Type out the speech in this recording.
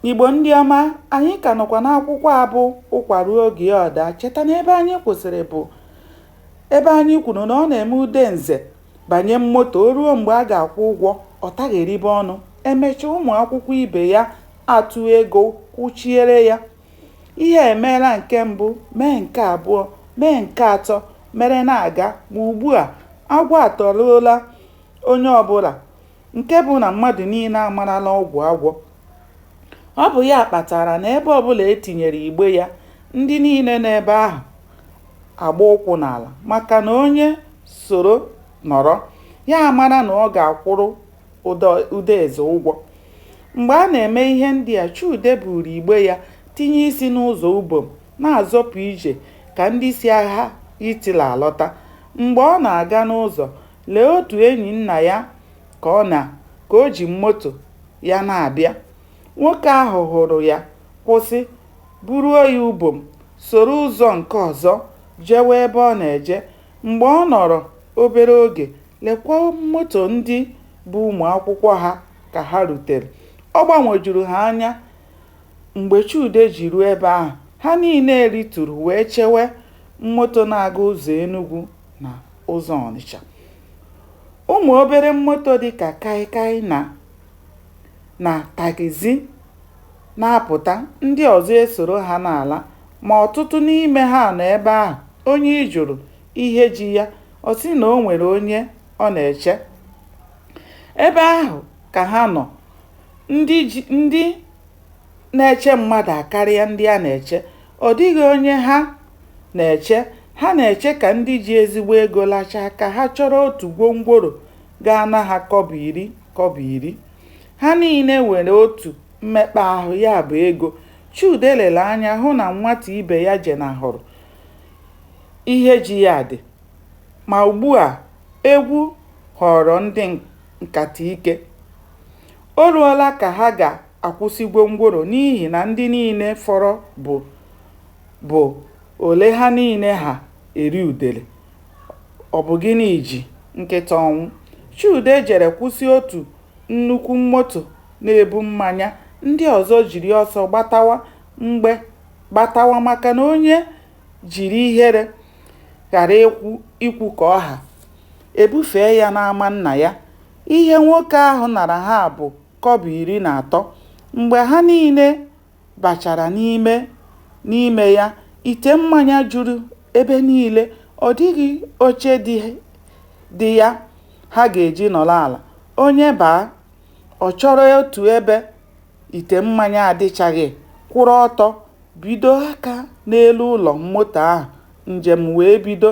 Igbo ndị ọma, anyị ka nọkwa n'akwụkwọ a bụ Ụkwa ruo oge ya ọ daa. Cheta na ebe anyị kwụsịrị bụ ebe anyị kwuru na ọ na-eme Udenze banye moto o ruo mgbe a ga-akwụ ụgwọ ọ tagheribe ọnụ emechaa ụmụ akwụkwọ ibe ya atụ ego kwụchiere ya ihe emeela nke mbụ mee nke abụọ mee nke atọ mere na-aga ma ugbu a agwọ atụruola onye ọbụla nke bụ na mmadụ niile amarala ọgwụ agwọ. Ọ bụ ya kpatara na ebe ọbụla e tinyere igbe ya, ndị niile nọ ebe ahụ agba ụkwụ n'ala maka na onye soro nọrọ, ya amara na ọ ga-akwụrụ Udeze ụgwọ. Mgbe a na-eme ihe ndị a, Chude buuru igbe ya tinye isi n'ụzọ Ubom na-azọpụ ije ka ndị si agha Hitler alọta. Mgbe ọ na-aga n'ụzọ, Lee otu enyi nna ya ka ọ na ka o ji moto ya na-abịa. Nwoke ahụ hụrụ ya, kwụsị, buruo ya Ubom, soro ụzọ nke ọzọ jewe ebe ọ na-eje. Mgbe ọ nọrọ obere oge, lekwa moto ndị bu ụmụ akwụkwọ ha ka ha rutere. Ọ gbanwojuru ha anya mgbe Chude ji ruo ebe ahụ. Ha niile rituru wee chewe moto na-aga ụzọ Enugwu na ụzọ Ọnịcha. Ụmụ obere moto dịka kaịkaị na na taxi na-apụta, ndị ọzọ esoro ha na-ala ma ọtụtụ n'ime ha nọ ebe ahụ, onye ị jụrụ ihe ji ya, ọ sị na o nwere onye ọ na-eche. Ebe ahụ ka ha nọ, ndị na-eche mmadụ akarịa ndị a na-eche. Ọ dịghị onye ha na-eche. Ha na-eche ka ndị ji ezigbo ego lachaa ka ha chọrọ otu gwongworo ga-ana ha kọbọ iri kọbọ iri. Ha niile nwere otu mmekpa ahụ, ya bụ ego. Chude lere anya hụ na nwata ibe ya jenahụrụ ihe ji ya dị. Ma ugbu a, egwu ghọọrọ ndị nkata ike. O ruola ka ha ga akwụsị gwongworo n'ihi na ndị niile fọrọ bụ bụ ole ha niile ha eri udele. Ọ bụ gịnị ji nkịta ọnwụ? Chude jere kwụsị otu nnukwu moto na-ebu mmanya, ndị ọzọ jiri ọsọ gbatawa mgbe gbatawa maka na onye jiri ihere ghara ikwu ikwu ka ọ ha, e bufee ya n'ama nna ya. Ihe nwoke ahụ nara ha bụ kọbọ iri na atọ. Mgbe ha niile bachara n'ime ya, ite mmanya juru ebe niile, ọ dịghị oche dị ya ha ga-eji nọrọ ala. Onye baa, ọ chọrọ otu ebe ite mmanya adịchaghị, kwụrụ ọtọ, bido aka n'elu ụlọ moto ahụ, njem wee bido.